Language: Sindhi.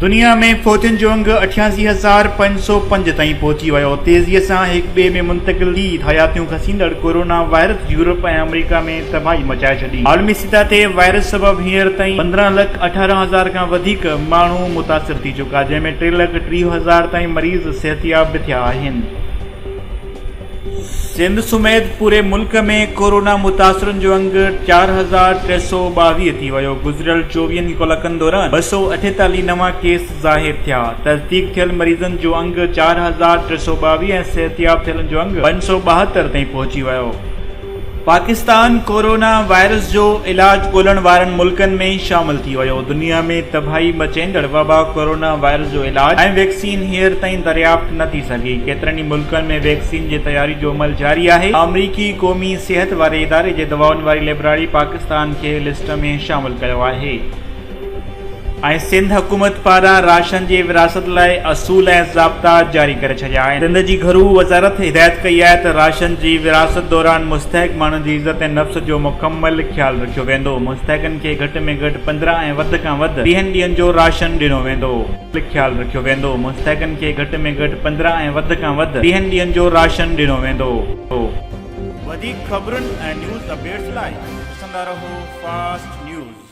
دنيا ۾ فوجن جو انگ اٺياسي هزار پنج سؤ پنج تائين پهچي ويو تيزي سان هڪ ٻئي ۾ منتقل ٽي حياتيون کسيندڙ ڪورونا وائرس يورپ ۽ آمريڪا ۾ تباهي مچائي ڇڏي عالمي سطح تي وائرس سبب هينئر تائين پندرهن لک اٺارهن هزار کان وڌيڪ ماڻهو متاثر ٿي چڪا جنهن ۾ ٽي لک ٽيهه هزار تائين مريض صحتياب به ٿيا آهن سنڌ سميت پوري ملڪ ۾ ڪورونا متاثرن جو انگ چار هزار ٽي سؤ ٻاويهه ٿي ويو گذريل چوويهن ڪلڪن دوران ٻه سؤ اٺيتاليهه نوان ڪيس ظاهر ٿيا تصديق ٿيل مريضن جو انگ چار هزار ٽي سؤ ٻاويهه ۽ صحتياب ٿيلن جو انگ پنج سؤ ٻاهتر تائين پهچي ويو پاڪستان ڪورونا وائرس جو علاج ڳولڻ وارن ملڪن ۾ شامل ٿي ويو، دنيا ۾ تباهي مچيندڙ وبا ڪورونا وائرس جو علاج ۽ ويڪسين هينئر تائين دريافت نه ٿي سگهي، ڪيترن ئي ملڪن ۾ ويڪسين جي تياري جو عمل جاري آهي، آمريڪي قومي صحت واري اداري جي دوائن واري ليبراري پاڪستان کي لسٽ ۾ شامل ڪيو آهي. ۽ سنڌ حڪومت پاران راشن جي ورهاست لاء اصول ۽ ضابطا جاري ڪري ڇڏيا آهن. سنڌ جي گهرو وزارت هدايت ڪئي آهي ته راشن جي ورهاست دوران مستحق ماڻهن جي عزت ۽ نفس جو مڪمل خيال رکيو ويندو، مستحقن کي گهٽ ۾ گهٽ پندرهن ۽ وڌ کان وڌ ويهن ڏينهن جو راشن ڏنو ويندو. خيال رکيو ويندو، مستحقن کي گهٽ ۾ گهٽ پندرهن ۽ وڌ کان وڌ ويهن ڏينهن جو راشن ڏنو ويندو. وڌيڪ خبرن ۽ نيوز اپڊيٽس لاء ڏسندا رهو فاسٽ نيوز.